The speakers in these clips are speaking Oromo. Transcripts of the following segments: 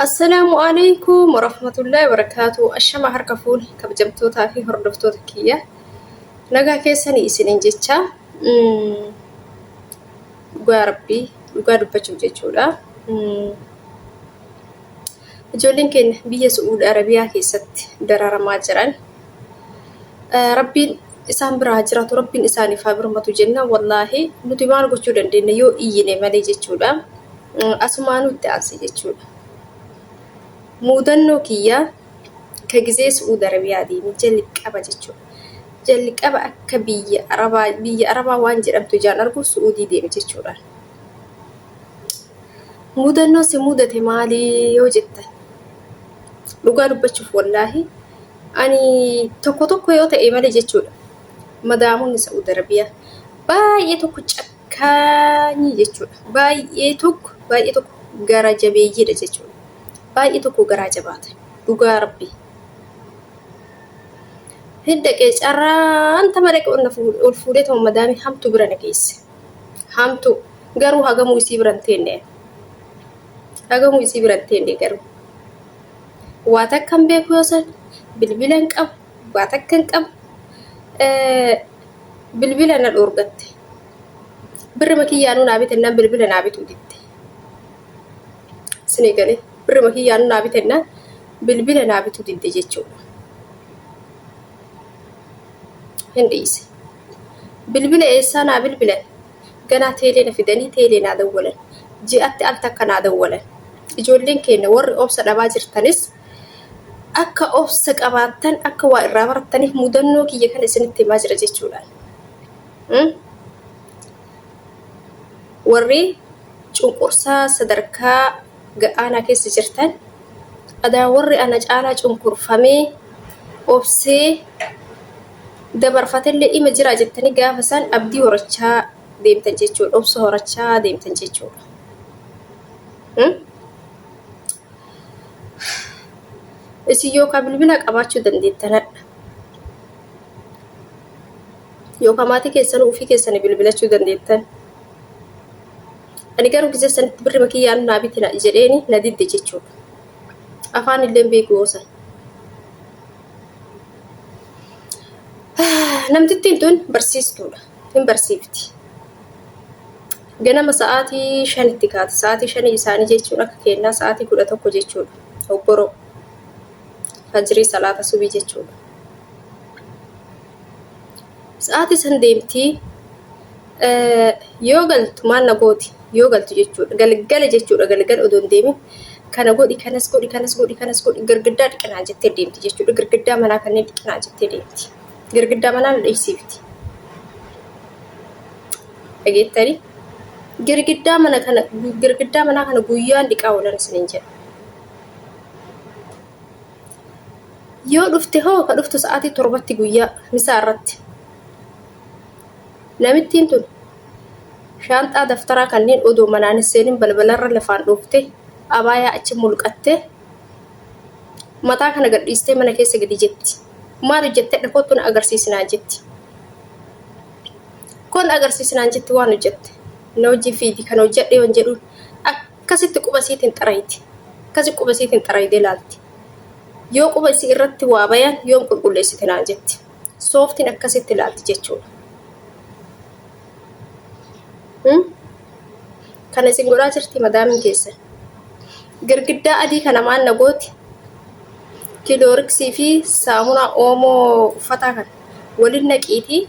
Assalaamu alaikum warahmatullahi wabarakatuh. Ashama harka fuune kabajamtootaa fi hordoftoota kiyya. Nagaa keessanii isiniin jecha mm, dhugaa rabbii dhugaa dubbachuuf jechuudha. Mm, Ijoolleen keenya biyya Su'uudi Arabiyaa keessatti dararamaa jiran. Eh, Rabbiin isaan biraa jiraatu rabbiin isaaniif haa birmatu jenna wallaahi nuti maal gochuu dandeenya yoo iyyine malee jechuudha asumaa nutti aansi jechuudha muudannoo kiyyaa ka gizee su'uud arabiyaa deemi jalqaba jechuudha jalqaba akka biyya arabaa biyya arabaa waan jedhamtu ijaan argu su'uudii deemi jechuudha muudannoo si muudate maalii yoo jettan dhugaa dubbachuuf wallaahi Ani tokko tokko yoo ta'e malee jechuudha. Madaamonni Sa'uud Arabiyaa baay'ee tokko cakkaanyii jechuudha. Baay'ee tokko baay'ee tokko gara jabeeyyiidha jechuudha. Baay'ee tokko garaa jabaata. Dhugaa rabbi. Hin dhaqee carraan tama dhaqe ol na fuudhe ol fuudhee tuma madaamii hamtu bira na geesse. Hamtu garuu hagamuu isii bira hin teenne. Hagamuu isii bira hin teenne garuu. waa takka hin beeku yoo san bilbila hin qabu waa takka hin qabu bilbila na dhoorgatte birrima kiyyaanuu naa bitennaan bilbila naa bituu didde isinii galee birrima kiyyaanuu naa bitennaan bilbila naa bituu didde jechuudha hin dhiise bilbila eessaa naa bilbilan ganaa teelee na fidanii teelee naa dawwalan. Ji'atti al takka naa dawwalan. Ijoolleen keenna warri obsa dhabaa jirtanis akka obsa qabaattan akka waa irraa barattaniif mudannoo kiyya kana isinitti himaa jira jechuudhaan. Hmm? Warri cunqursaa sadarkaa gad aanaa keessa jirtan adaan warri ana caalaa cunqurfamee obsee dabarfatellee ima jiraa jettanii gaafa san abdii horachaa deemtan jechuudha. Obsa horachaa deemtan jechuudha. Hmm? Isin yookaan bilbila qabaachuu dandeettan hadha. Yookaan maatii keessan ofii keessanii bilbilachuu dandeettan. Ani garuu gizee sanitti birri makiyyaan naa bitina jedheeni na didde jechuudha. Afaan illee hin beeku yoo san. Namtittiin tun barsiistuudha. Hin barsiifti. Ganama sa'aatii shanitti kaati. Sa'aatii shanii isaanii jechuun akka kennaa sa'aatii kudha tokko jechuudha. Obboroo. Fajirii salaata subii jechuudha. Sa'aatii san deemti yoo galtu maal na gooti yoo galtu jechuudha galgala jechuudha galgala odoo hin deemin kana godhi kanas godhi kanas godhi kanas godhi girgiddaa dhiqinaa jettee deemti jechuudha girgiddaa manaa kanneen dhiqinaa jettee deemti girgiddaa manaa na dhiqsiifti dhageettanii girgiddaa mana kana girgiddaa manaa kana guyyaan dhiqaa oolan isiniin jedha Yoo dhufte hoo ka dhuftu sa'aatii torbatti guyyaa misaa irratti. Namittiin tun shaanxaa daftaraa kanneen odoo manaan hin seenin balbalarra lafaan dhoofte abaayaa achi mulqattee mataa kana gadhiistee mana keessa gadi jetti. Maal hojjette dhakootu na agarsiisinaan jetti. Kun agarsiisinaan jetti waan hojjette. Na hojii fiidi kan hojjedhe yoon jedhuun Akkasitti quba isiitiin xarayti. Akkasi quba isiitiin xaraydee laalti. Yoo quba isii irratti waa bayan yoom qulqulleessite naan jetti. Sooftiin akkasitti laalti jechuudha. Hmm? Kana isin godhaa jirti madaamiin keessa. Girgiddaa adii kana maal na gooti? Kilooriksii fi saamunaa oomoo uffataa kana waliin naqiitii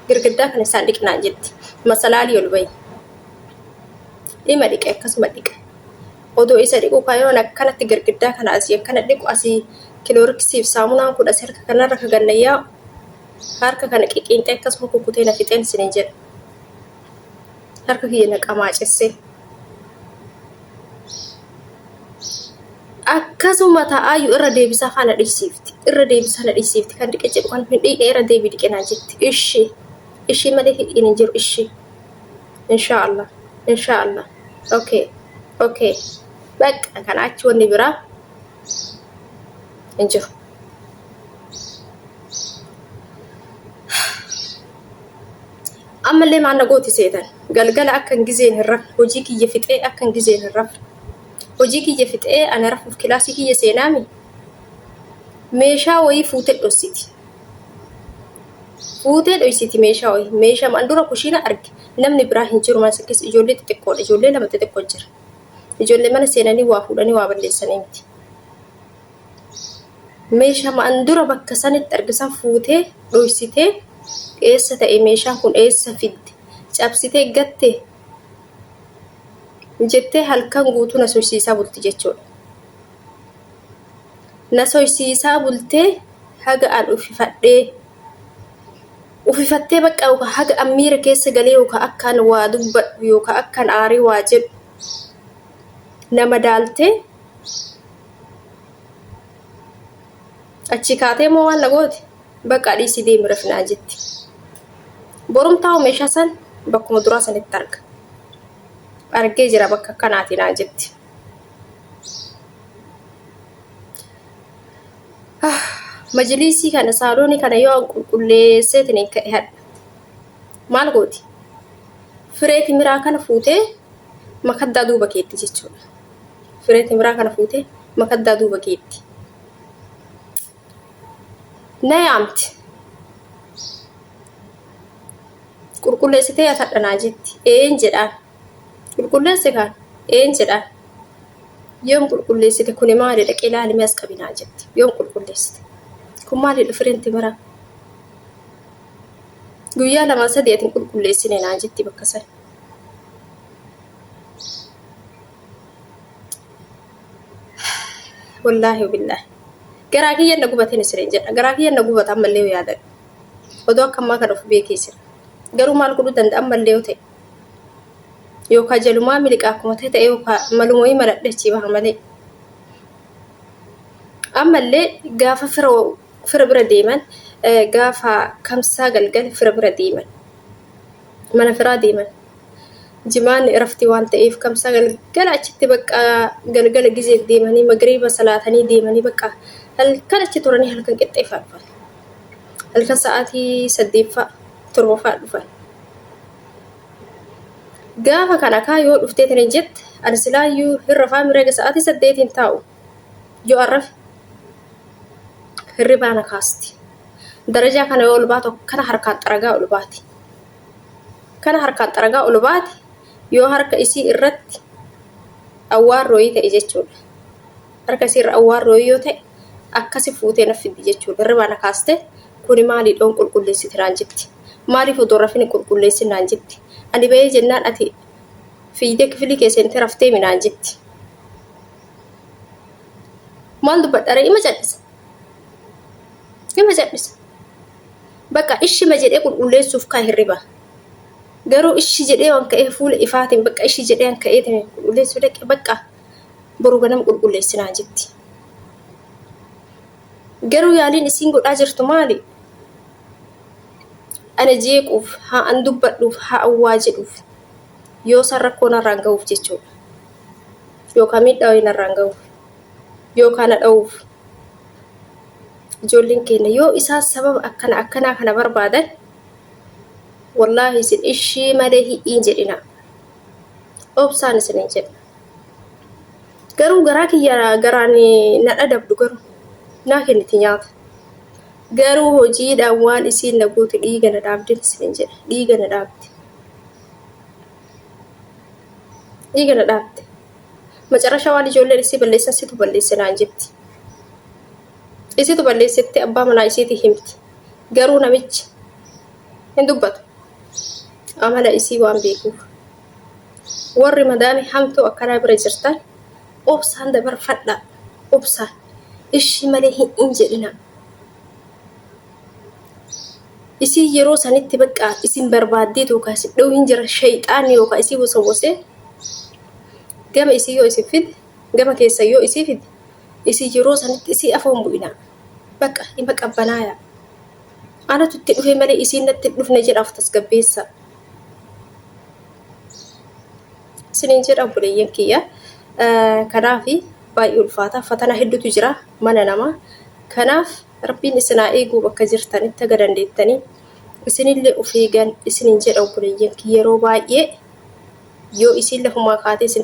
girgiddaa kana isaan dhiqnaan jetti. Masalaalii ol bahi. Dhima dhiqe akkasuma dhiqe. Odoo isa dhiqu kan yeroo akkanatti girgiddaa kana asii akkana dhiqu asii kilooriksiif saamunaan kun asii harka kanarra ka ganna yaa'u harka kana qiqiinxee akkasuma kukkutee na fixeen isin jedha. Harka kiyya na qamaacessee. akkasuma ta'aayu irra deebisaa kana dhiisiifti irra deebisaa na dhiisiifti kan dhiqe jedhu kan hin dhiqe irra deebi dhiqe naa jetti ishii ishii malee hidhiin hin jiru ishii Inshaallah. Inshaallah. Okay. Okay. Bakka kana achi wanni biraa hin jiru. Ammallee maal na gooti seetan galgala akkan gizeen hin rafne hojii kiyya fixee akkan gizeen hin rafne hojii kiyya fixee ana rafuuf kilaasii kiyya seenaami meeshaa wayii fuute dhossiti. Fuutee dhoysiti meeshaa oyi. Meeshaa maan dura kushiina arge. Namni biraa hin jiru maas akkas ijoollee xixiqqoodha. Ijoollee lama xixiqqoo jira. Ijoollee mana seenanii waa fuudhanii waa balleessanii miti. Meeshaa maan dura bakka sanitti arge san fuutee dhoysitee eessa ta'e meeshaan kun eessa fidde cabsitee gatte jettee halkan guutuu na soysiisaa bulti jechuudha. Na soysiisaa bultee haga an ufifadhee. Ufifattee baqqa yookaan haga an miira keessa galee yookaan akka an waa dubbadhu yookaan akka an aaree waa jedhu na madaaltee achii kaatee immoo waan na goote baqaa dhiisii deemi rafi naan jetti. Borumtaa'u meeshaa san bakkuma duraa sanitti arga. Argee jira bakka akkanaatii naan jetti. majiliisii kana saaloonii kana yoo an qulqulleesseetin hin ka'e hadha maal gooti firee timiraa kana fuutee makaddaa duuba keetti jechuudha firee timiraa kana fuutee makaddaa duuba keetti na yaamti qulqulleessitee atadhanaa jetti een jedhaan Qulqulleessi kaa? Een jedha. Yoom qulqulleessite kuni maalidha qilaalimee as qabinaa jette. Yoom qulqulleessite? Kun maalidha firiin timiraa? Guyyaa lamaa sadii ati hin qulqulleessine naan jetti bakka sana. Wallaahi billaahi. Garaa kiyyan na gubateen isiniin jedha. Garaa kiyyan na gubata ammallee yoo yaadadha. Odoo akka ammaa kana of beekee jira. Garuu maal godhuu danda'a ammallee yoo ta'e. yookaan jalumaa miliqaa akkuma ta'e ta'e yookaan maluma wayii maladhe achii baha malee. Ammallee gaafa fira fira bira deeman gaafa kamsaa galgala fira bira deeman mana firaa deeman jimaan irafti waan ta'eef kamsaa galgala achitti bakka galgala gizeef deemanii magariiba salaatanii deemanii bakka halkan achi turanii halkan qixxeeffaa dhufan halkan sa'aatii saddeeffaa torbaffaa dhufan. Gaafa kan akaa yoo dhuftee tani jette ani silaayyuu hin rafaa mireega sa'aatii saddeetiin taa'u yoo an rafe hirribaa na kaasti. Darajaa kana yoo ol baatu kana harkaan xaragaa ol baati. Kana harkaan xaragaa ol baate yoo harka isii irratti awwaarrooyii ta'e jechuudha. Harka isii irra awwaarrooyii yoo ta'e akkasi fuutee na fiddi jechuudha. Hirribaa na kaaste kuni maalii dhoon qulqulleessiti naan jetti. Maaliif odoo rafin hin qulqulleessin naan jetti. Ani ba'ee jennaan ati fiigdee kifilii kee seentee rafteemi naan jetti. Maal dubbadha ree ima cal'isa. Ima cal'isa. Bakka ishima jedhee qulqulleessuuf kaa hirriba. Garuu ishi jedhee waan ka'ee fuula ifaatiin bakka ishi jedhee waan ka'ee ta'e qulqulleessuu dhaqe bakka boru ganama qulqulleessi naan jetti. Garuu yaaliin isiin godhaa jirtu maali? Ana jeequuf, haa an dubbadhuuf, haa an waa jedhuuf. Yoo san rakkoo narraan gahuuf jechuudha. Yookaan miidhaa wayii narraan gahuuf. Yookaan na dha'uuf. Ijoolleen keenya yoo isaan sababa akkana akkanaa kana barbaadan wallaahi isin ishii malee hi'iin jedhina. Obsaan isiniin jedha. Garuu garaa kiyya garaan na dhadabdu garuu naa kenniti nyaata. Garuu hojiidhaan waan isiin na gootu dhiiga na dhaabdin isiniin jedhe dhiiga na dhaabde. Dhiiga na dhaabde. Macarasha waan ijoolleen isii balleessan situ balleesse naan jetti. Isitu balleessetti abbaa manaa isiiti himti. Garuu namichi hin dubbatu. Amala isii waan beekuuf. warri madaamii hamtuu akkanaa bira jirtan obsaan dabarfadha obsaan ishii malee hin hin jedhina isin yeroo sanitti bakka isin barbaaddee tookaa isin dha'u hin jira shayxaanni yookaa isii wasawasee gama isii yoo isin fide gama keessa yoo isii fide isin yeroo sanitti isii afoon bu'ina bakka ima qabbanaaya anatu itti dhufe malee isiin natti hin dhufne jedhaaf tasgabbeessa. isiniin jedha obboleeyyan kiyya kanaaf baay'ee ulfaata fatana hedduutu jira mana namaa kanaaf rabbiin isinaa eeguu bakka jirtanitti aga dandeettanii isinillee of eegan isiniin jedha obboleeyyan kiyya yeroo baay'ee yoo isiin lafumaa kaatee isin